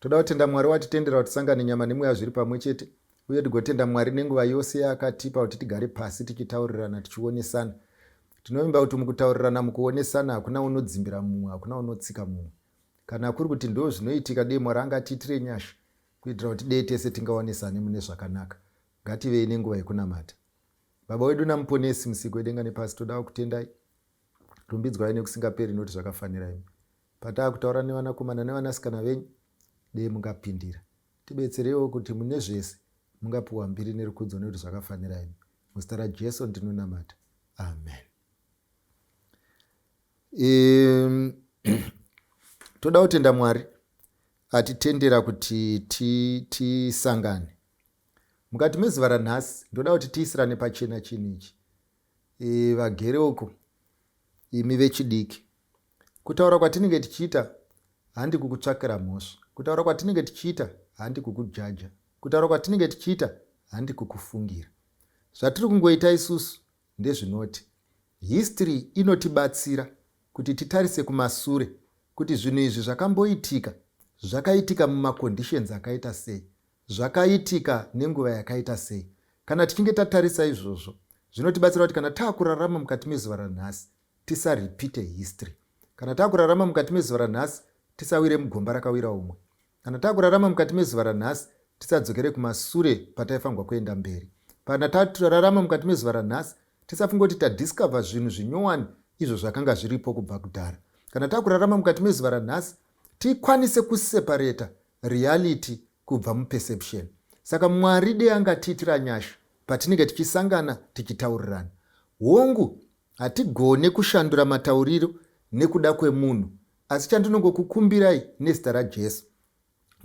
Toda kutenda Mwari watitendera kuti tisangane nyama nemweya zviri pamwe chete uye tigotenda Mwari nenguva yose yaakatipa kuti tigare pasi tichitaurirana tichionesana. Tinovimba kuti mukutaurirana mukuonesana hakuna unodzimbira mumwe hakuna unotsika mumwe. Kana kuri kuti ndoo zvinoitika dei Mwari angatiitire nyasha kuitira kuti dei tese tingaonesane mune zvakanaka. Ngativei nenguva yekunamata. Baba wedu naMuponesi, Musiki wedenga nepasi, toda kukutendai. Rumbidzwai nekusingaperi nekuti zvakafanira imi. Pataakutaura nevanakomana nevanasikana venyu, dei mungapindira. Tibetsereiwo kuti mune zvese mungapiwa mbiri nerukudzo nekuti zvakafanira imi. Muzita raJesu ndinonamata. Amen. Um, toda kutenda Mwari atitendera kuti tisangane ti, ti mukati mezuva ranhasi ndoda kuti tiisirane pachena chinhu ichi e, vagere uko imi vechidiki Kutaura kwatinenge tichiita handi kukutsvakira mhosva. Kutaura kwatinenge tichiita handi kukujaja. Kutaura kwatinenge tichiita handi kukufungira. Zvatiri kungoita isusu ndezvinoti history inotibatsira kuti titarise kumasure kuti zvinhu izvi zvakamboitika zvakaitika mumaconditions akaita sei, zvakaitika nenguva yakaita sei. Kana tichinge tatarisa izvozvo zvinotibatsira kuti kana taakurarama mukati mezuva ranhasi tisarepeate history kana takurarama mukati mezuva ranhasi tisawire mugomba rakawira umwe kana takurarama mukati mezuva ranhasi tisadzokere kumasure pataifanirwa kuenda mberi kana taturarama mukati mezuva ranhasi tisafunga kuti tadiscover zvinhu zvinyowani izvo zvakanga zviripo kubva kudhara kana takurarama mukati mezuva ranhasi tikwanise kuseparata reality kubva muperception saka mwari dei angatiitira nyasha patinenge tichisangana tichitaurirana hongu Hatigone kushandura matauriro nekuda kwemunhu asi chandinongokukumbirai nezita raJesu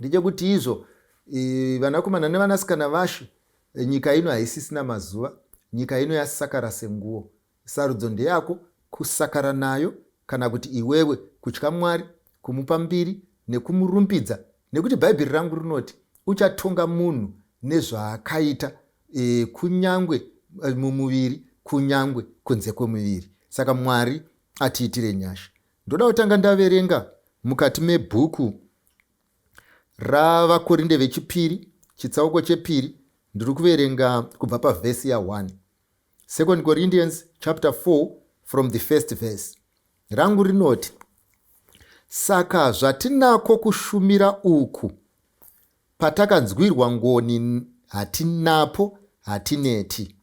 ndechekuti izvo e, vanakomana nevanasikana vashe e, nyika ino haisisina mazuva nyika ino yasakara senguwo sarudzo ndeyako kusakara nayo kana kuti iwewe kutya mwari kumupa mbiri nekumurumbidza nekuti bhaibheri rangu rinoti uchatonga munhu nezvaakaita e, kunyangwe e, mumuviri kunyangwe kunze kwemuviri saka mwari atiitire nyasha ndoda kutanga ndaverenga mukati mebhuku ravakorinde vechipiri chitsauko chepiri ndiri kuverenga kubva pavhesi ya1 second corinthians chapter 4 from the first verse rangu rinoti saka zvatinako kushumira uku Patakanzwirwa ngoni hatinapo hatineti.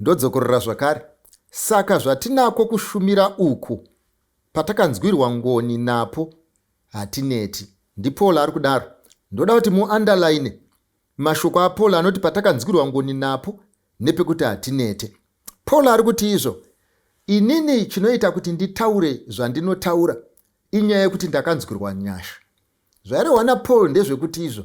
Ndodzokorora zvakare, saka zvatinako kushumira uku patakanzwirwa ngoni napo hatineti. NdiPaul ari kudaro. Ndoda kuti muandalayine mashoko aPaul anoti patakanzwirwa ngoni napo nepekuti hatinete. Paul ari kuti izvo inini chinoita kuti nditaure zvandinotaura inyaya yekuti ndakanzwirwa nyasha. Zvairehwa naPaul ndezvekuti izvo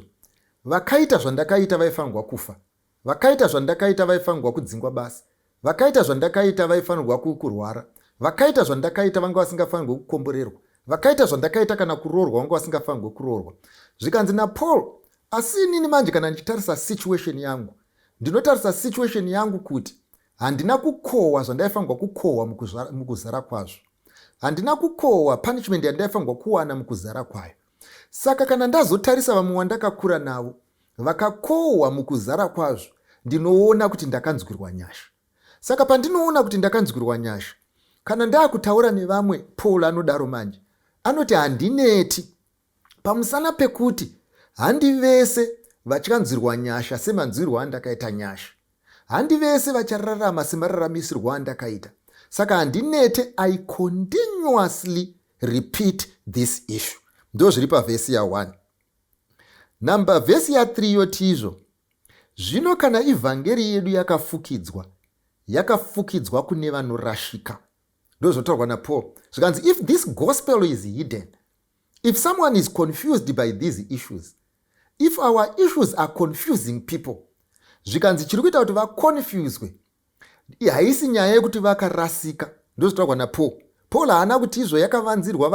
vakaita zvandakaita vaifanirwa kufa, vakaita zvandakaita vaifanirwa kudzingwa basa, vakaita zvandakaita vaifanirwa kurwara, vakaita zvandakaita vanga vasingafanirwe kukomborerwa, vakaita zvandakaita kana kuroorwa vanga vasingafanirwe kuroorwa. Zvikanzi naPaul, asi inini manje kana ndichitarisa situation yangu, ndinotarisa situation yangu kuti handina kukohwa zvandaifanirwa kukohwa mukuzara kwazvo. Handina kukohwa punishment yandaifanirwa kuwana mukuzara kwayo. Saka kana ndazotarisa vamwe wandakakura navo vakakohwa mukuzara kwazvo, ndinoona kuti ndakanzwirwa nyasha. Saka pandinoona kuti ndakanzwirwa nyasha, kana ndaakutaura nevamwe, Paul anodaro manje, anoti handineti Pamusana pekuti handi vese vachanzwirwa nyasha semanzwirwo andakaita nyasha. Handi vese vachararama semararamisirwo andakaita. Saka handinete I continuously repeat this issue. Ndozviri pavhesi ya 1. Number vhesi ya 3 yotizvo zvino kana ivhangeri yedu yakafukidzwa yakafukidzwa kune vanorashika ndozvotaurwa napaul zvikanzi if this gospel is hidden If someone is confused by these issues, if our issues are confusing people, zvikanzi chiri kuita kuti vaconfuswe, haisi nyaya yekuti vakarasika, ndozvitaurwa naPaul. Paul haana kuti izvo yakavanzirwa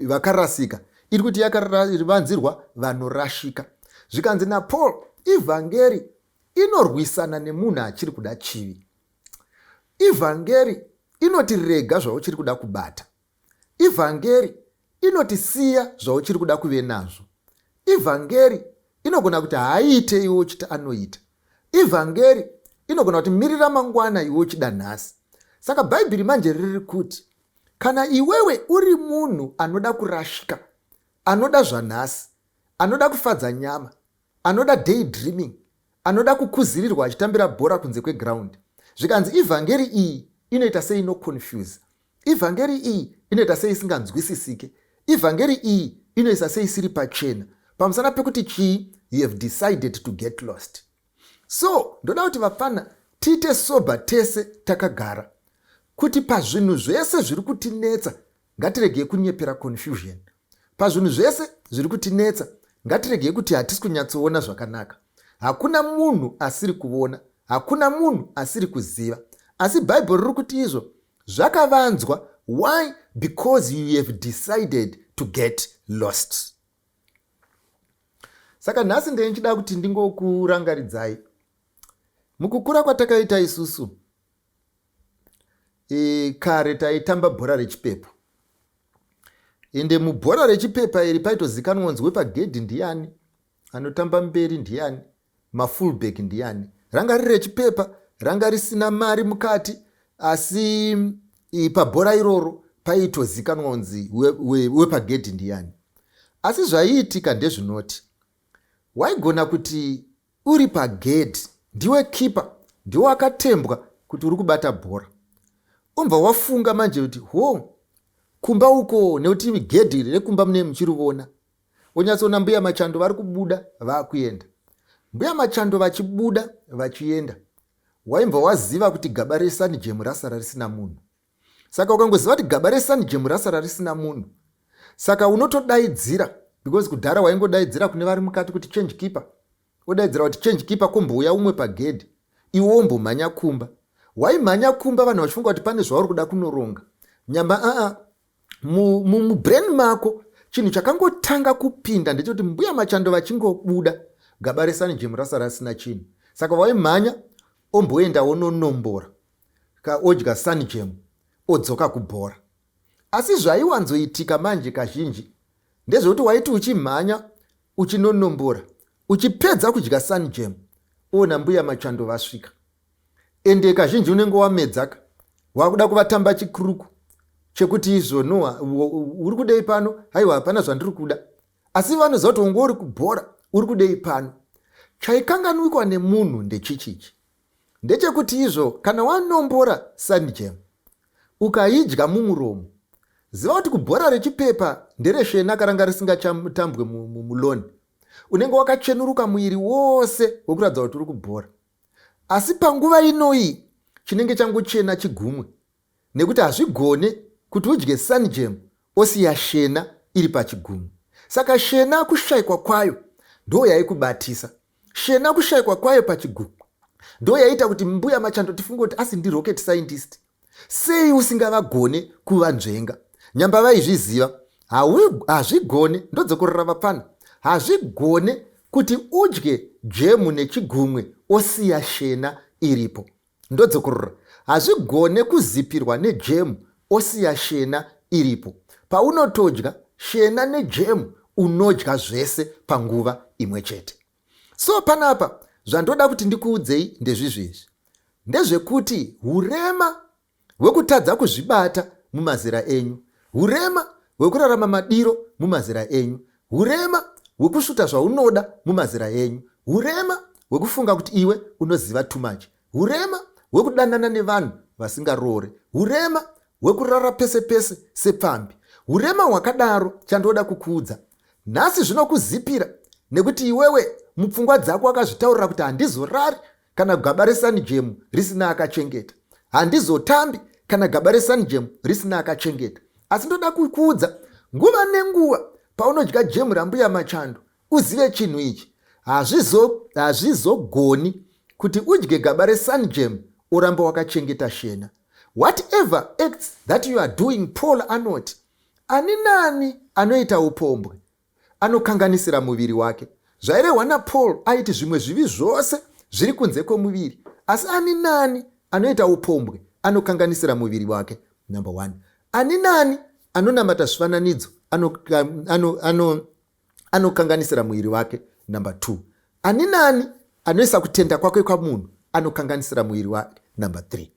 vakarasika, iri kuti yakavanzirwa vanorashika. Zvikanzi naPaul, ivhangeri inorwisana nemunhu achiri kuda chivi. Ivhangeri inoti rega zvauchiri kuda kubata. Ivhangeri inoti siya zvauchiri kuda kuve nazvo. Ivhangeri inogona kuti haiite iwe uchiti anoita. Ivhangeri inogona kuti mirira mangwana iwe uchida nhasi. Saka Bhaibheri manje riri kuti kana iwewe uri munhu anoda kurashika, anoda zvanhasi, anoda kufadza nyama, anoda day dreaming anoda kukuzirirwa achitambira bhora kunze kweground zvikanzi ivhangeri iyi inoita sei inoconfuse ivhangeri iyi inoita sei isinganzwisisike ivhangeri iyi inoisa sei isiri pachena pamusana pekuti chii you have decided to get lost so ndoda kuti vapfana tiite sober tese takagara kuti pazvinhu zvese zviri kutinetsa Ngatiregei kunyepera confusion pazvinhu zvese zviri kutinetsa. Ngatiregei kuti hatisi kunyatsoona zvakanaka. Hakuna munhu asiri kuvona, hakuna munhu asiri kuziva. Asi Bible riri kuti izvo zvakavanzwa. Why? Because you have decided to get lost. Saka nhasi ndee ndichida kuti ndingokurangaridzai mukukura kwatakaita isusu e, kare taitamba bhora rechipepa ende mubhora rechipepa iri paitozikanwa nzi wepagedhi ndiyani anotamba mberi ndiyani mafullback ndiyani ranga riri rechipepa ranga risina mari mukati asi pabhora iroro paitozikanwa unzi wepagedhi we, we ndiyani asi zvaiitika ndezvinoti waigona kuti Uri pagedhi ndiwe keeper ndiwe wakatembwa kuti uri kubata bhora. Unbva wafunga manje kuti hoo kumba uko nekuti gedhi iri rekumba mune muchirivona. Wonyatsoona mbuya machando vari kubuda vakuenda. Mbuya machando vachibuda vachienda waimbva waziva kuti gaba resanijemu rasara risina munhu. saka ukangoziva kuti gaba resanijemu rasara risina munhu saka unotodaidzira because kudhara waingodaidzira kune vari mukati kuti change keeper odaidzira kuti change keeper kumbouya umwe pagedhi iwe wombomhanya kumba waimhanya kumba vanhu vachifunga kuti pane zvauri kuda kunoronga nyamba aa mubrain mako chinhu chakangotanga kupinda ndechekuti mbuya machando vachingobuda gaba resanijemu rasara risina chinhu saka waimhanya omboenda wononombora ka odya sunjam odzoka kubhora asi zvaiwanzoitika manje kazhinji ndezvekuti waiti uchimhanya uchinonombora uchipedza kudya sunjam ona mbuya machando vasvika ende kazhinji unenge wamedzaka wakuda kuvatamba chikuruku chekuti izvo noa uri kudei pano haiwa hapana zvandiri kuda asi vanoziva kuti unge uri kubhora uri kudei pano chaikanganwikwa nemunhu ndechichichi ndechekuti izvo kana wanombora sanjam ukaidya mumuromo ziva kuti kubhora rechipepa ndereshena karanga risingatambwe muloni unenge wakachenuruka muiri wose wekuratidza kuti uri kubhora asi panguva inoyi chinenge changochena chigumwe nekuti hazvigone kuti udye sunjam osiya shena iri pachigunwe saka shena kushaikwa kwayo ndoyaikubatisa shena kushaikwa kwayo pachigunwe ndoyaita kuti mbuya machando tifunge kuti asi ndirocket scientist sei usingavagone kuvanzvenga nyamba vaizviziva hazvigone ndodzokorora vapfana hazvigone kuti udye jemu nechigumwe osiya shena iripo Ndodzokorora. Hazvigone kuzipirwa nejemu osiya shena iripo. Paunotodya shena nejemu unodya zvese panguva imwe chete. So panapa zvandoda kuti ndikuudzei ndezvizvi izvi. Ndezvekuti hurema hwekutadza kuzvibata mumazera enyu, hurema hwekurarama madiro mumazera enyu, hurema hwekusvuta zvaunoda mumazera enyu, hurema hwekufunga kuti iwe unoziva too much, hurema hwekudanana nevanhu vasingaroore, hurema hwekurara pese pese sepfambi, hurema hwakadaro chandoda kukuudza nhasi zvinokuzipira nekuti iwewe mupfungwa dzako wakazvitaurira kuti handizorari kana gaba resanijemu risina akachengeta handizotambi kana gaba resanijemu risina akachengeta asi ndoda kukuudza nguva nenguva paunodya jemu rambuya machando uzive chinhu ichi hazvizogoni hazvizo kuti udye gaba resanijemu oramba wakachengeta shena whatever acts that you are doing paul anoti ani nani anoita upombwe anokanganisira muviri wake. Zvairehwa naPaul aiti zvimwe zvivi zvose zviri kunze kwemuviri, asi ani nani anoita upombwe anokanganisira muviri wake. Number one, ani nani anonamata zvifananidzo anokanganisira ano, ano, ano muviri wake. Number two, Ani naani anoisa kutenda kwake kwamunhu anokanganisira muviri wake. Number three,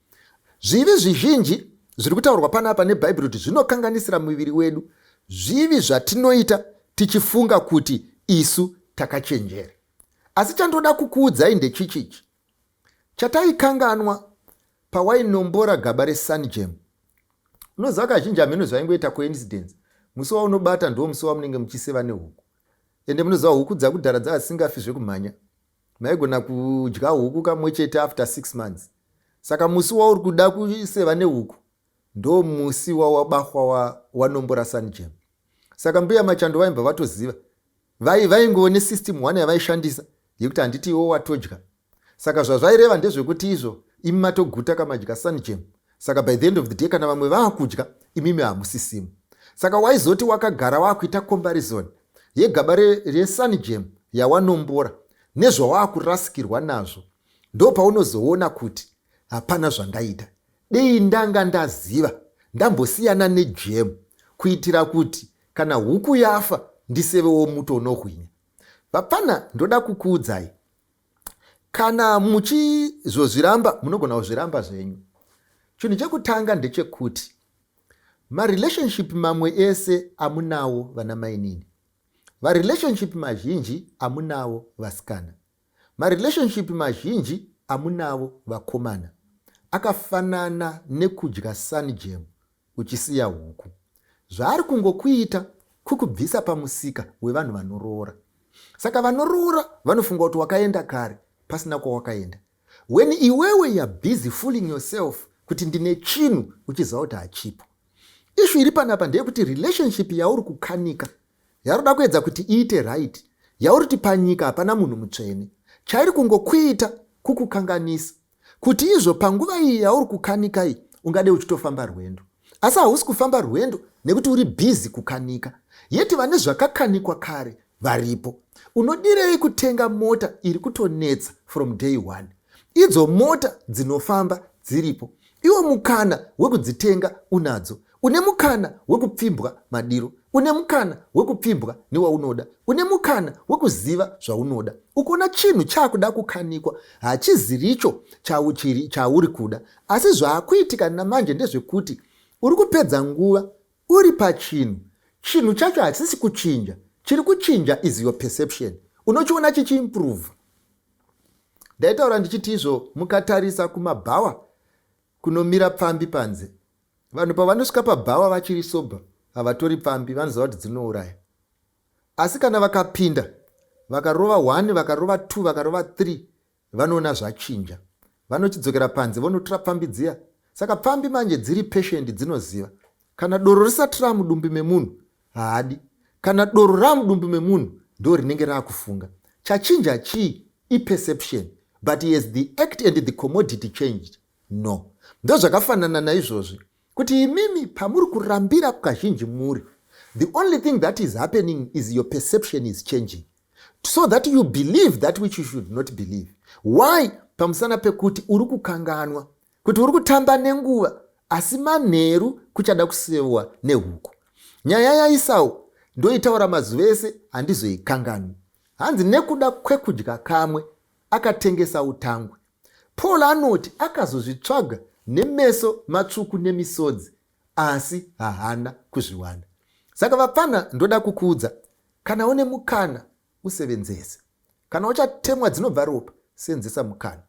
zvivi zvizhinji zviri kutaurwa panapa nebhaibheri kuti zvinokanganisira muviri wedu zvivi zvatinoita tichifunga kuti isu takachenjera. Asi chandoda kukuudzai ndechichichi, chataikanganwa pawainombora gaba resunjam unoziva kazhinji hameno zvaingoita coincidence musi waunobata ndiwo musi wamunenge muchiseva nehuku ende munoziva huku dzakudhara dzaasingafi zvekumhanya maigona kudya huku kamwe chete after six months saka musi wauri kuda kuseva nehuku ndo musi wawabahwa wa, wanombora sanjem saka mbuya machando vaimbva vatoziva vai vaingoone system one yavaishandisa yekuti handiti iwo watodya Saka zvazvaireva ndezvekuti izvo imi matoguta kamadya sunjam saka by the end of the day kana vamwe vaakudya imimi hamusisimo saka waizoti wakagara waakuita comparison yegaba resunjam yawanombora nezvawakurasikirwa nazvo ndo paunozoona kuti hapana zvandaita dei ndanga ndaziva ndambosiyana nejem kuitira kuti kana huku yafa ndisevewo muto unohwinya vapfana ndoda kukuudzai kana muchizozviramba munogona kuzviramba zvenyu chinhu chekutanga ndechekuti marelationship mamwe ese amunawo vana mainini varelationship mazhinji amunawo vasikana marelationship mazhinji amunavo vakomana akafanana nekudya sunjam uchisiya huku. Zvaari kungokuita kukubvisa pamusika wevanhu vanoroora. Saka vanoroora vanofunga kuti wakaenda kare pasina kwawakaenda. When iwewe you're busy fooling yourself kuti ndine chinhu uchiziva kuti hachipo. Ishu iri panapa ndeyekuti relationship yauri kukanika yaroda kuedza kuti iite right yauri kuti panyika hapana munhu mutsvene chairi kungokuita kukukanganisa kuti izvo panguva iyi yauri kukanika iyi ungade uchitofamba rwendo asi hausi kufamba rwendo nekuti uri bhizi kukanika yeti vane zvakakanikwa kare varipo unodirei kutenga mota iri kutonetsa from day one idzo mota dzinofamba dziripo iwo mukana wekudzitenga unadzo Une mukana wekupfimbwa madiro. Une mukana wekupfimbwa newaunoda. Une mukana wekuziva zvaunoda. Ukaona chinhu chaakuda kukanikwa, hachiziricho chauchiri chauri kuda. Asi zvaakuitika namanje ndezvekuti uri kupedza nguva uri pachinhu. Chinhu chacho hachisi kuchinja. Chiri kuchinja is your perception. Unochiona chichiimprove. Ndaitaura ndichiti izvo mukatarisa kumabhawa kunomira pfambi panze. Vanhu pavanosvika pabhawa vachiri sobha havatori pfambi vanoziva kuti dzinouraya. Asi kana vakapinda vakarova one, vakarova two, vakarova three vanoona zvachinja. Vanochidzokera panze vonotora pfambi dziya. Saka pfambi manje dziri patient dzinoziva. Kana doro risati ramudumbi memunhu haadi. Kana doro ramudumbi memunhu ndo rinenge rakufunga. Chachinja chii? Iperception. But as the act and the commodity changed, No. Ndozvakafanana naizvozvi kuti imimi pamuri kurambira kazhinji muri the only thing that is happening is your perception is changing so that you believe that which you should not believe why pamusana pekuti uri kukanganwa kuti uri kutamba nenguva asi manheru kuchada kusewa nehuku nyaya yaisau ndoitaura mazuva ese handizoikanganwi hanzi nekuda kwekudya kamwe akatengesa utangwe Paul anoti akazozvitsvaga nemeso matsvuku nemisodzi asi haana kuzviwana. Saka vapfanha ndoda kukuudza kana une mukana usevenzese. Kana uchatemwa dzinobva ropa senzesa mukana.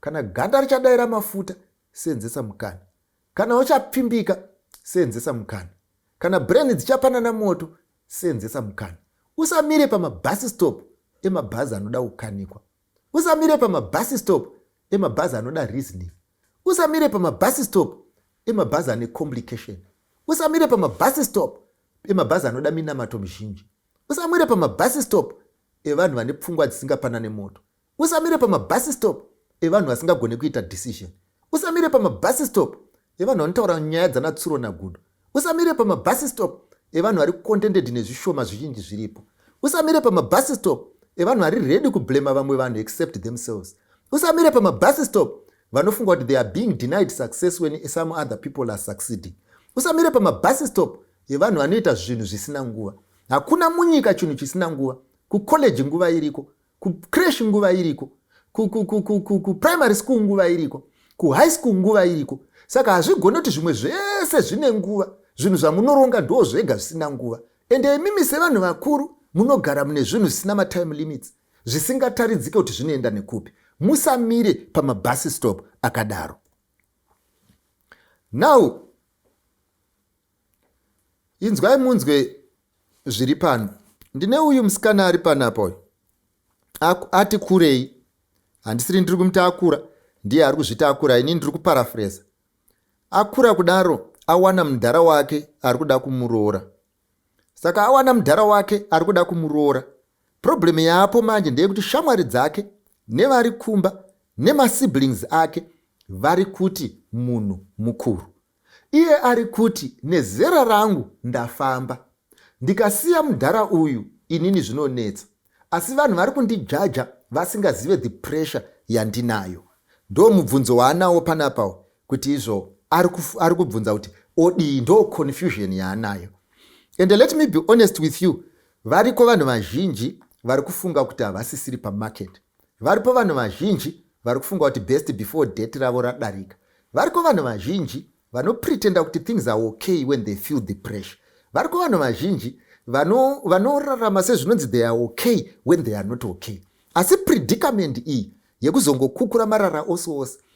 Kana ganda richadaira mafuta senzesa mukana. Kana uchapfimbika senzesa mukana. Kana brain dzichapanana moto senzesa mukana. Usamire pamabus stop emabhazi anoda kukanikwa. usamire pamabhasi stop emabhazi anoda reasoning usamire pamabhasi stop emabhazi ane complication usamire pamabhasi stop emabhazi anoda minamato mizhinji usamire pamabhasi stop evanhu vane pfungwa dzisingapanane moto usamire pamabhasi stop evanhu vasingagone kuita decision usamire pamabhasi stop evanhu vanotaura nyaya dzanatsuro nagudo usamire pamabus stop evanhu vari contented nezvishoma zvizhinji zviripo usamire pamabus stop evanhu vari ready kublema vamwe vanhu except themselves usamire pamabus stop vanofunga kuti they are being denied success when some other people are succeeding usamire pamabus stop evanhu vanoita zvinhu zvisina nguva hakuna munyika chinhu chisina nguva kucollege nguva iriko kucresh nguva iriko kuprimary school nguva iriko kuhigh school nguva iriko saka hazvigone kuti zvimwe zvese zvine nguva zvinhu zvamunoronga ndoo zvega zvisina nguva ende imimi sevanhu vakuru munogara mune zvinhu zvisina matime limits zvisingataridzike kuti zvinoenda nekupi musamire pamabhasi stop akadaro now inzwai munzwe zviri pano ndine uyu musikana ari panapa uyu ati kurei handisiri ndiri kumuti akura ndiye ari kuzviti akura ini ndiri kuparafreza akura kudaro awana mudhara wake ari kuda kumuroora saka awana mudhara wake ari kuda kumuroora problemu yaapo manje ndeyekuti shamwari dzake nevari kumba nemasiblings ake vari kuti munhu mukuru Iye ari kuti nezera rangu ndafamba. Ndikasiya mudhara uyu inini zvinonetsa asi vanhu vari kundijaja vasingazive the pressure yandinayo. Ndoo mubvunzo waanawo panapa uyu kuti izvo ari, kuf, ari kubvunza kuti odii ndoo confusion yaanayo. And let me be honest with you variko vanhu vazhinji vari kufunga kuti havasisiri pamarket. Varipo vanhu vazhinji vari kufunga kuti best before date ravo radarika. Variko vanhu vazhinji vanopretenda kuti things are okay when they feel the pressure. Variko vanhu vazhinji vano, vanorarama sezvinonzi they are okay when they are not okay. Asi predicament iyi yekuzongokukura marara ose ose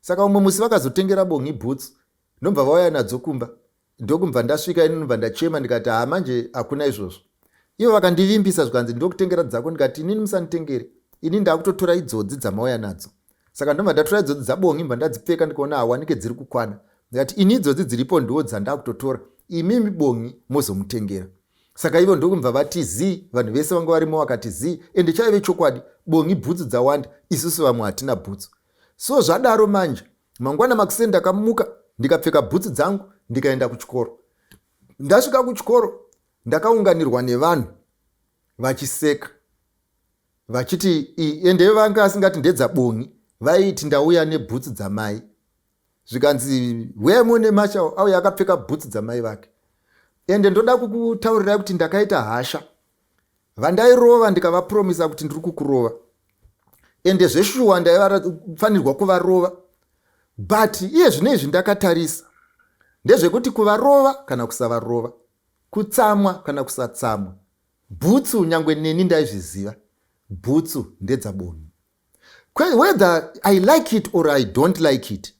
Saka umwe musi vakazotengera Bongi boots ndobva vauya nadzo kumba ndokubva ndasvika ini ndobva ndachema ndikati haa manje hakuna izvozvo ivo vakandivimbisa zvikanzi ndokutengera dzako ndikati inini musanditengere ini ndakutotora idzodzi dzamauya nadzo saka ndobva ndatora idzodzi dzabongi mva ndadzipfeka ndikaona hawanike dziri kukwana ndikati ini idzodzi dziripo ndiwo dzandakutotora imimi bongi mozomutengera saka ivo ndokubva vati zii vanhu vese vanga varimo vakati zii ende chaive chokwadi bongi bhutsu dzawanda isusu vamwe hatina bhutsu So zvadaro manje mangwana makuseni ndakamuka ndikapfeka bhutsu dzangu ndikaenda kuchikoro. Ndasvika kuchikoro ndakaunganirwa nevanhu vachiseka vachiti ende vanga asingati ndedza bongi vaiti ndauya nebhutsu dzamai zvikanzi wemo nemashawo auya akapfeka bhutsu dzamai vake ende ndoda kukutaurirai kuti ndakaita hasha vandairova ndikavapromisa kuti ndiri kukurova ende zveshuwa ndaivafanirwa kuvarova but iye zvine izvi ndakatarisa ndezvekuti kuvarova kana kusavarova kutsamwa kana kusatsamwa bhutsu nyange neni ndaizviziva bhutsu ndedzaboni whether i like it or i don't like it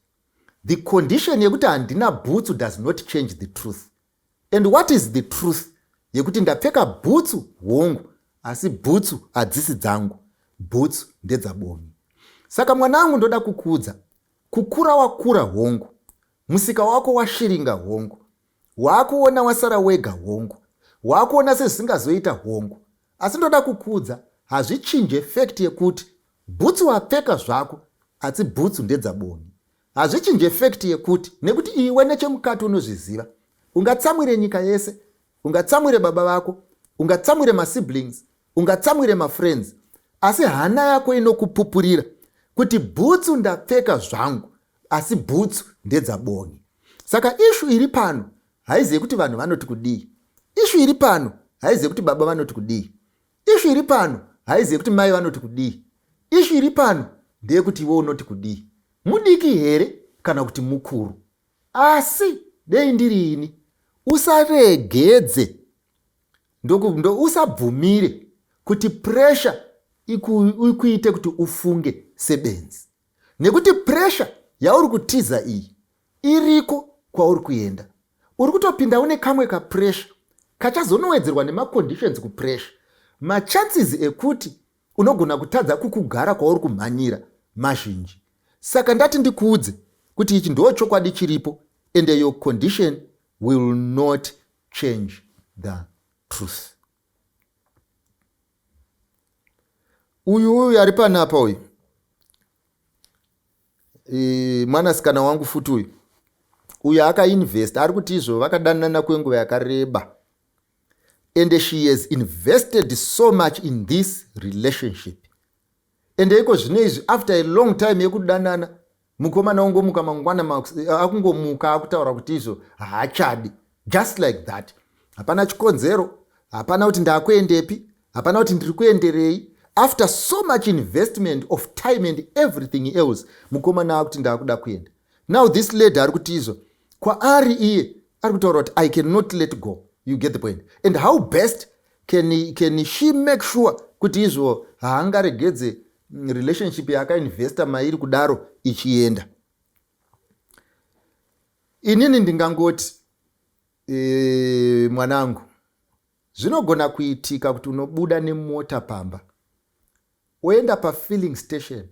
the condition yekuti handina bhutsu does not change the truth And what is the truth yekuti ndapfeka bhutsu hongu asi bhutsu hadzisi dzangu bhutsu ndedzaboni saka mwana angu ndoda kukuudza kukura wakura hongu musika wako washiringa hongu waakuona wasara wega hongu waakuona sezvisingazoita hongu asi ndoda kukuudza hazvichinje fekti yekuti bhutsu wapfeka zvako asi bhutsu ndedzaboni Hazvichinje fact yekuti nekuti iwe nechemukati unozviziva. Ungatsamwire nyika yese, ungatsamwire baba vako, ungatsamwire masiblings, ungatsamwire mafriends, asi hana yako inokupupurira kuti bhutsu ndapfeka zvangu asi bhutsu ndedzabongi saka ishu iri pano haizive kuti vanhu vanoti kudii ishu iri pano haizive kuti baba vanoti kudii ishu iri pano haizi yekuti mai vanoti kudii ishu iri pano ndeyekuti iwe unoti kudii mudiki here kana kuti mukuru asi dei ndiri ini usaregedze usabvumire ndo, ndo kuti presha ikuite kuti ufunge sebenzi nekuti presha yauri kutiza iyi iriko kwauri kuenda uri kutopinda une kamwe kapressure kachazonowedzerwa nemaconditions kupressure machances ekuti unogona kutadza kukugara kwauri kumhanyira mazhinji saka ndati ndikuudze kuti ichi ndoo chokwadi chiripo and your condition will not change the truth uyu uyu ari panapa uyu mwanasikana wangu futi uyu uyo akainvesta ari kuti izvo vakadanana kwenguva yakareba and she has invested so much in this relationship ende iko zvino izvi after a long time yekudanana mukomana ungomuka mangwana akungomuka akutaura kuti izvo haachadi just like that hapana chikonzero hapana kuti ndakuendepi hapana kuti ndiri kuenderei after so much investment of time and everything else mukomana akuti ndaakuda kuenda now this lady ari kuti izvo kwaari iye ari kutaura kuti i cannot let go you get the point and how best can, can she make sure kuti izvo haangaregedze relationship yaakainvesta mairi kudaro ichienda Inini ndingangoti e, mwanangu zvinogona kuitika kuti unobuda nemota pamba oenda pafilling station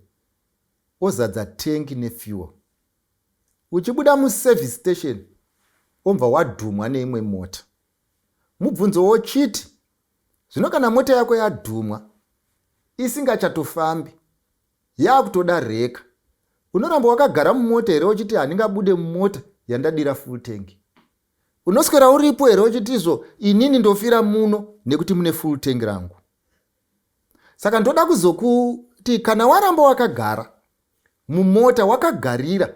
ozadza tengi nefuel uchibuda muservice station ombva wadhumwa neimwe mota mubvunzo wochiti zvino kana mota yako yadhumwa isingachatofambi Yaakutoda reka. Unoramba wakagara mumota here uchiti handingabude mumota yandadira full tank? Unoswera uripo here uchitizvo inini ndofira muno nekuti mune full tank rangu? Saka ndoda kuzokuti kana waramba wakagara mumota wakagarira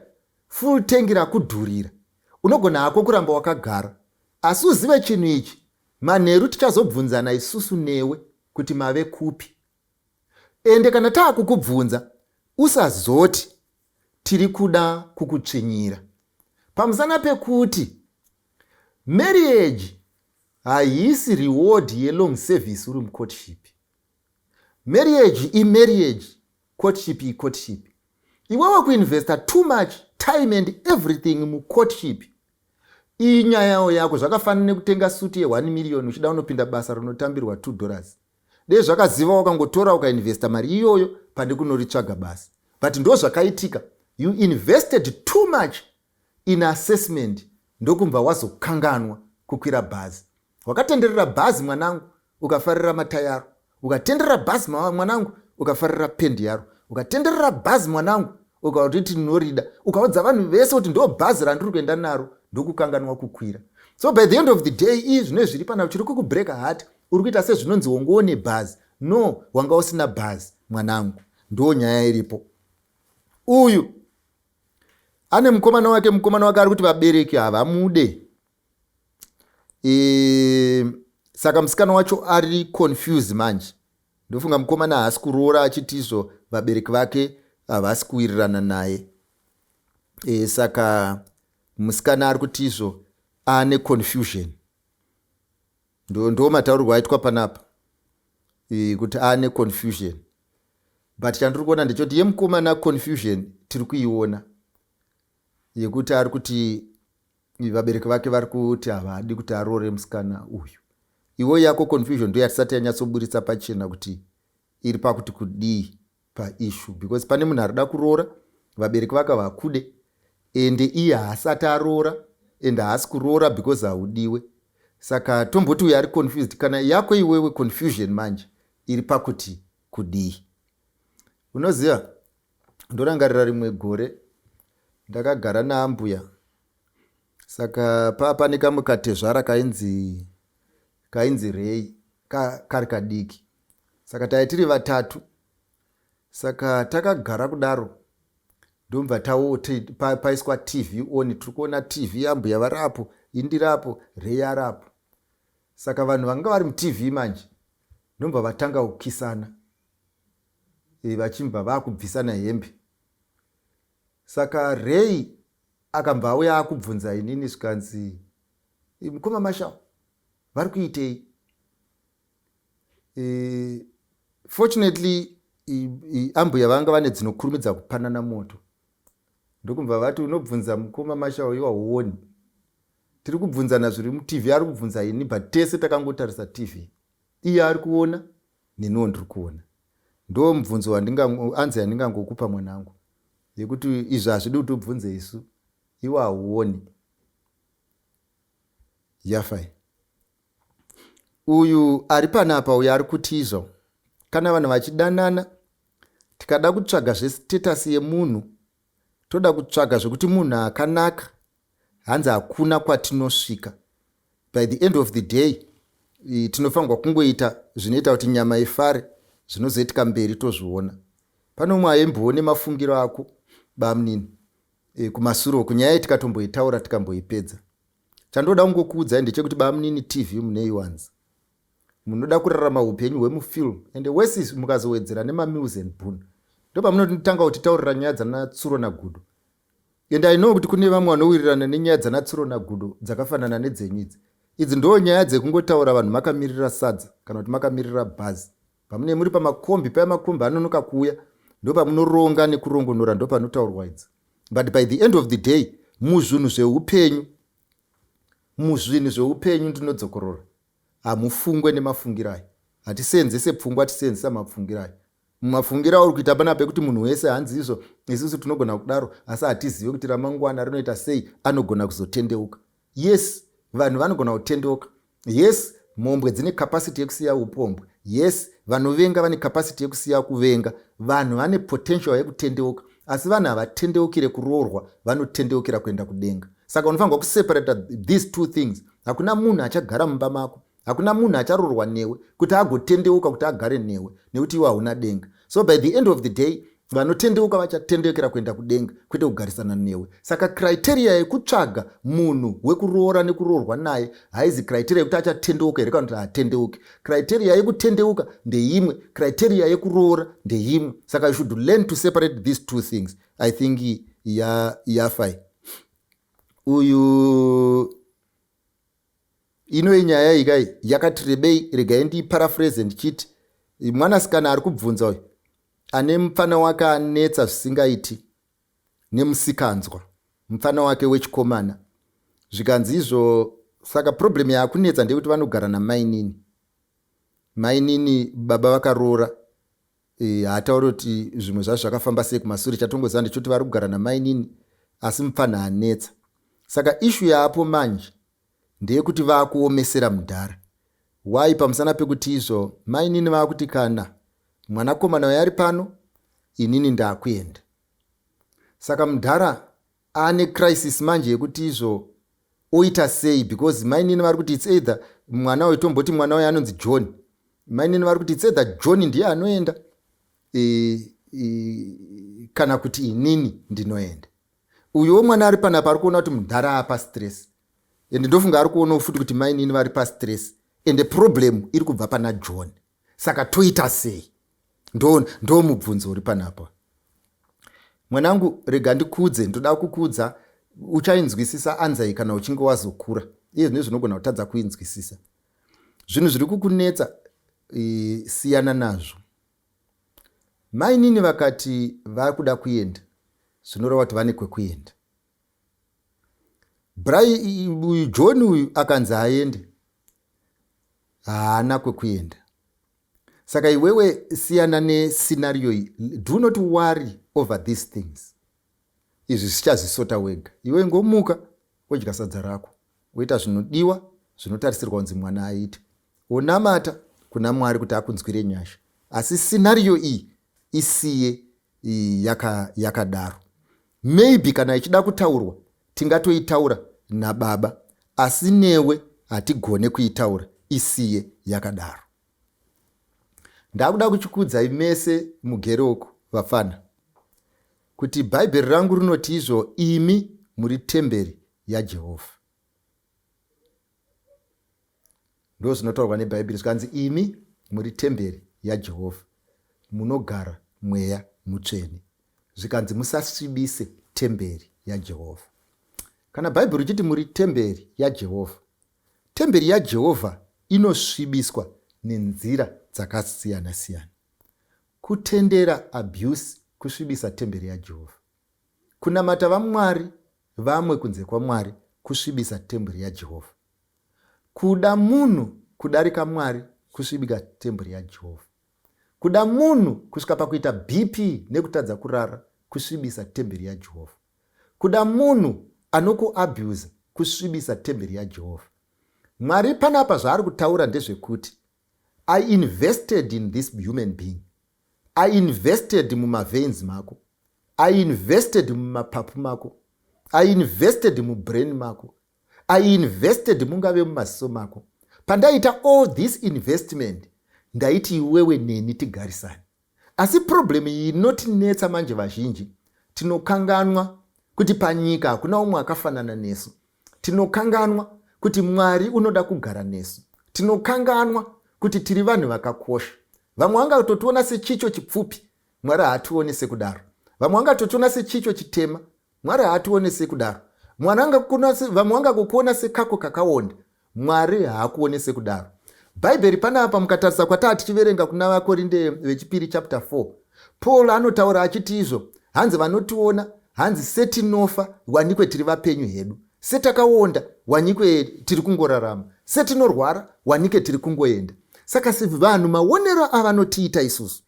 full tank rakudhurira unogona hako kuramba wakagara asi uzive chinhu ichi manheru tichazobvunzana isusu newe kuti mave kupi Ende kana taakukubvunza usazoti tiri kuda kukutsvinyira pamusana pekuti marriage haisi reward yelong service uri mucourtship. Marriage imarriage, courtship icourtship. Iwe wakuinvesta too much time and everything mucourtship. Iyi nyaya yako zvakafanana nekutenga suti ye1 million uchida unopinda basa rinotambirwa 2 dollars. dei zvakaziva wakangotora ukainvesta mari iyoyo pane kunoritsvaga basi but ndo zvakaitika you invested too much in assessment ndokumbva wazokanganwa kukwira bhazi wakatenderera bhazi mwanangu ukafarira matayaro ukatenderera bhazi mwanangu ukafarira pendi yaro ukatenderera bhazi mwanangu ukati tinorida ukaudza vanhu vese kuti ndo bhazi randiri kuenda naro ndokukanganwa kukwira so by the end of the day ii zvine zviri pana chiri kukubreaka hati Uri kuita sezvinonzi wongo one bhazi no wanga usina bhazi mwanangu ndoo nyaya iripo uyu ane mukomana wake mukomana wake ari kuti vabereki havamude e, saka musikana wacho ari confuse manje ndofunga mukomana haasi kuroora achiti izvo vabereki vake havasi kuwirirana naye e, saka musikana ari kuti izvo ane confusion Ndo ndo mataurirwo aitwa panapa eh, kuti ane confusion but chandiri kuona ndechoti yemukomana confusion tiri kuiona yekuti ari kuti vabereki vake vari kuti havadi kuti aroore musikana uyu iwo yako confusion ndo yatisati yanyatsoburitsa pachena kuti iri pakuti kudii paissue because pane munhu arida kuroora vabereki vakavakude ende iye haasati aroora ende haasi kuroora because haudiwe saka tomboti uyo ari confused kana yako iwewe confusion manje iri pakuti kudii unoziva ndorangarira rimwe gore ndakagara naambuya saka paa pane kamwe katezvara kainzi kainzi rei kari kadiki saka taive tiri vatatu saka takagara kudaro ndobva taoti pa, paiswa tv on tiri kuona tv ambuya vari apo indiri apo rei ari apo saka vanhu vanga vari mutv manje ndobva vatanga kukisana e, vachibva vakubvisana hembe saka rei akabva auya akubvunza inini zvikanzi mukoma mashawo vari kuitei e, fortunately ambuya vanga vane dzinokurumidza kupanana moto ndokubva vati unobvunza mukoma mashawo iwa huoni tiri kubvunzana zviri mutv ari kubvunza ini but tese takangotarisa tv iye ari kuona neniwo ndiri kuona ndo mubvunzo anzi yandingangokupa mwanangu yekuti izvi hazvidi kuti ubvunze isu iwa huoni yafai Uyu ari panapa uyu ari kutiza kana vanhu vachidanana tikada kutsvaga zvestatus yemunhu toda kutsvaga zvekuti munhu akanaka hanzi hakuna kwatinosvika by the end of the day tinofanirwa kungoita zvinoita kuti nyama ifare zvinozoitika mberi tozviona pane umwe aimboone mafungiro ako bamunini e, kumasuro kunyaya iyi tikatomboitaura tikamboipedza Chandoda kungokuudzai ndechekuti bamunini TV munei wanzi. Munoda kurarama hupenyu hwemufilm and worse is mukazowedzera nemamills and boon. Ndopamunotanga kutitaurira nyaya dzana Tsuro naGudo. And I know kuti kune vamwe vanowirirana nenyaya dzana Tsuro naGudo dzakafanana nedzenyu idzi. Idzi ndoo nyaya dzekungotaura vanhu makamirira sadza kana kuti makamirira bhazi. Pamune muri pamakombi paya makombi anonoka kuuya ndopamunoronga nekurongonora ndopanotaurwa idzi. but by the end of the day muzvinhu zveupenyu muzvinhu zveupenyu ndinodzokorora hamufungwe nemafungirai hatiseenzese pfungwa tiseenzesa mapfungirai mumafungira auri kuita pana pekuti munhu wese hanzi izvo isusu tinogona kudaro asi hatizive kuti ramangwana rinoita sei anogona kuzotendeuka Yes vanhu vanogona kutendeuka. Yes mhombwe dzine capacity yekusiya upombwe. Yes vanovenga vane capacity yekusiya kuvenga. Vanhu vane potential yekutendeuka asi vanhu havatendeukire kuroorwa vanotendeukira kuenda kudenga saka unofanirwa kuseparata these two things hakuna munhu achagara mumba mako hakuna munhu acharorwa newe kuti agotendeuka kuti agare newe nekuti iwe hauna denga so by the end of the day vanotendeuka vachatendeukira kuenda kudenga kwete kugarisana newe saka criteria yekutsvaga munhu wekuroora nekuroorwa naye haizi criteria yekuti achatendeuka here kana kuti haatendeuki criteria yekutendeuka ndeimwe criteria yekuroora ndeimwe saka you should learn to separate these two things i think yafai ya uyu Inoyi nyaya iyi kai yakati rebei regai ndiiparaphrase ndichiti mwanasikana ari kubvunza uyu ane mupfana wake anetsa zvisingaiti nemusikanzwa mupfana wake wechikomana zvikanzi izvo saka problem yaakunetsa ndeyekuti vanogara namainini mainini baba vakaroora Eh, haatauri kuti zvimwe zvazvo zvakafamba sei kumasure chatongoziva ndechoti vari kugara namainini asi mupfanha anetsa saka ishu yaapo manje ndeyekuti vaakuomesera mudhara wai pamusana pekuti izvo mainini vaakuti kana mwanakomana uyo ari pano inini ndaakuenda saka mudhara ane crisis manje yekuti izvo oita sei because mainini vari kuti its either mwana uyu tomboti mwana uyu anonzi john mainini vari kuti its either john ndiye anoenda e, e, kana kuti inini ndinoenda uyuwo mwana ari panapa ari kuona kuti mudhara apa stress ende ndofunga ari kuonawo futi kuti mainini vari pastress ende problem iri kubva pana john saka toita sei ndo ndo mubvunzo uri panapa mwanangu rega ndikudze ndoda kukudza uchainzwisisa anzai kana uchinge wazokura iye zvine zvinogona kutadza kuinzwisisa zvinhu zviri kukunetsa e, siyana nazvo mainini vakati vakuda kuenda zvinoreva kuti vane kwekuenda brai uyu john uyu akanzi aende haana kwekuenda saka iwewe siyana nescenario iyi do not worry over these things izvi zvichazvisota wega iwe ngomuka wodya sadza rako woita zvinodiwa zvinotarisirwa kunzi mwana aite wonamata kuna mwari kuti akunzwire nyasha asi scenario iyi isiye yakadaro yaka Maybe kana ichida kutaurwa tingatoitaura nababa asi newe hatigone kuitaura isiye yakadaro. Ndakuda kuchikuudzai mese mugere uku vapfana kuti bhaibheri rangu rinoti izvo imi muri temberi yaJehovha. ndo zvinotaurwa nebhaibheri zvikanzi imi muri temberi yajehovha munogara mweya mutsvene zvikanzi musasvibise temberi yajehovha kana bhaibheri uchiti muri temberi yajehovha temberi yajehovha inosvibiswa nenzira dzakasiyana-siyana kutendera abuse kusvibisa temberi yajehovha Kunamata vamwari vamwe kunze kwaMwari kusvibisa temburi yaJehovha. Kuda munhu kudarika Mwari kusvibika temburi yaJehovha. Kuda munhu kusvika pakuita BP nekutadza kurara kusvibisa temberi yaJehovha. Kuda munhu anokuabhuza kusvibisa temberi yaJehovha. Mwari panapa zvaari kutaura ndezvekuti I invested in this human being. I invested mumaveins mako. I invested mumapapu mako. I invested mubrain mako. I invested mungave mumaziso mako. Pandaita all this investment, ndaiti iwewe neni tigarisane. Asi problem iyi inotinetsa manje vazhinji tinokanganwa kuti panyika hakuna umwe akafanana nesu. Tinokanganwa kuti Mwari unoda kugara nesu. Tinokanganwa kuti tiri vanhu vakakosha. Vamwe vangatotiona sechicho chipfupi, Mwari haationi sekudaro. Vamwe vangatotiona sechicho chitema, Mwari haatione sekudaro. Mwana angakuona se, vamwe vangakukuona sekako kakaonda. Mwari haakuone sekudaro. Bhaibheri panapa mukatarisa kwataa tichiverenga kuna vakorinde vechipiri chapter 4. Paul anotaura achiti izvo, hanzi vanotiona, hanzi setinofa, wanikwe tiri vapenyu hedu. Setakaonda, wanikwe tiri kungorarama. Setinorwara, wanike tiri kungoenda. Saka vanhu maonero avanotiita isusu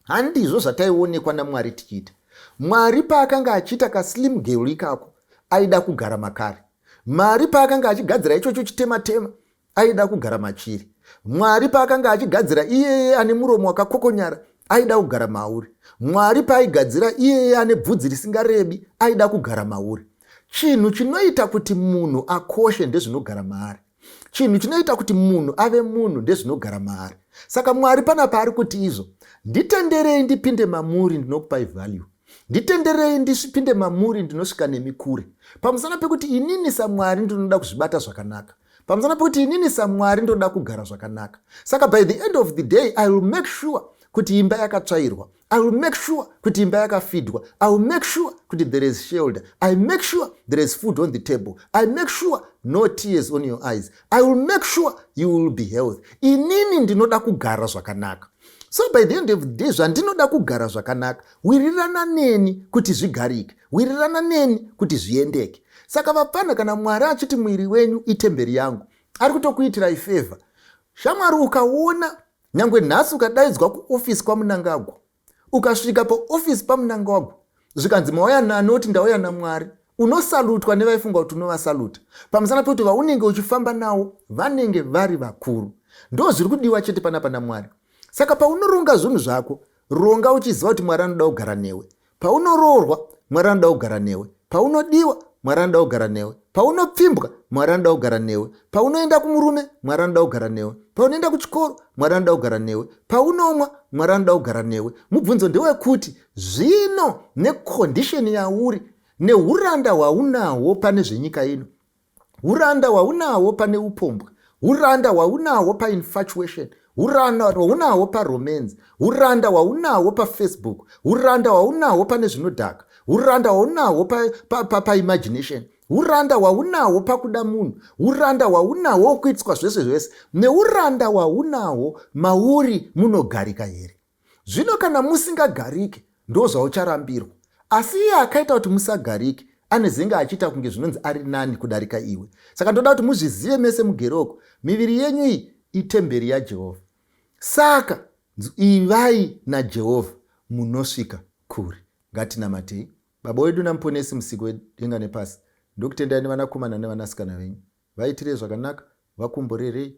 Handizvo zvataionekwa naMwari tichiita. Mwari paakanga achiita kaslim girl ikako aida kugara makari. Mwari paakanga achigadzira ichocho chitematema aida kugara machiri. Mwari paakanga achigadzira iyeye ane muromo wakakokonyara aida kugara mauri. Mwari paaigadzira iyeye ane bvudzi risingarebi aida kugara mauri. Chinhu chinoita kuti munhu akoshe ndezvinogara maari. chinhu chinoita kuti munhu ave munhu ndezvinogara maari saka mwari pana paari kuti izvo nditenderei ndipinde mamuri ndinokupai value nditenderei ndisvipinde mamuri ndinosvika nemi kure pamusana pekuti inini samwari ndinoda kuzvibata zvakanaka pamusana pekuti inini samwari ndinoda kugara zvakanaka saka by the end of the day i will make sure kuti imba yakatsvairwa I will make sure kuti imba yakafidwa. I will make sure kuti there is shelter. I make sure there is food on the table. I make sure no tears on your eyes. I will make sure you will be health. Inini ndinoda kugara zvakanaka. So by the end of the day zvandinoda kugara zvakanaka wirirana neni kuti zvigarike. Wirirana neni kuti zviendeke. Saka vapfana kana mwari achiti mwiri wenyu itemberi yangu ari kutokuitirai favor. Shamwari ukaona Nyangwe nhasi ukadaidzwa kuofisi kwaMunangagwa, ukasvika paofisi paMunangagwa zvikanzi mauya nani oti ndauya naMwari, unosalutwa nevaifunga kuti unovasaluta pamusana pekuti vaunenge uchifamba nawo vanenge vari vakuru. Ndo zviri kudiwa chete panapa naMwari. Saka paunoronga zvinhu zvako, ronga uchiziva kuti Mwari anoda kugara newe. Paunoroorwa, Mwari anoda kugara newe. Paunodiwa, Mwari anoda kugara newe. Paunopfimbwa, Mwari anoda kugara newe. Paunoenda kumurume, Mwari anoda kugara newe. Paunoenda kuchikoro, Mwari anoda kugara newe. Paunomwa, Mwari anoda kugara newe. Mubvunzo ndewekuti zvino nekondisheni yauri neuranda hwaunahwo pane zvenyika ino, uranda hwaunahwo pane upombwe uranda hwaunahwo painfatuation uranda hwaunahwo paromance uranda hwaunahwo pafacebook uranda hwaunahwo pane zvinodhaka uranda hwaunahwo paimagination pa, pa, pa uranda hwaunahwo pakuda munhu uranda hwaunahwo wokuitiswa zvese zvese neuranda hwaunahwo mauri munogarika here Zvino kana musingagarike, ndozvaucharambirwa. Asi iye akaita kuti musagarike, anezenge achiita kunge zvinonzi ari nani kudarika iwe. Saka ndoda kuti muzvizive mese mugere uko, miviri yenyu iyi itemberi yaJehovha. Saka, ivai naJehovha, munosvika kure. Ngatinamatei. Baba wedu naMuponesi, Musiki wedenga nepasi, ndokutendai nevanakomana nevanasikana venyu. Vaitirei zvakanaka, vakomborerei,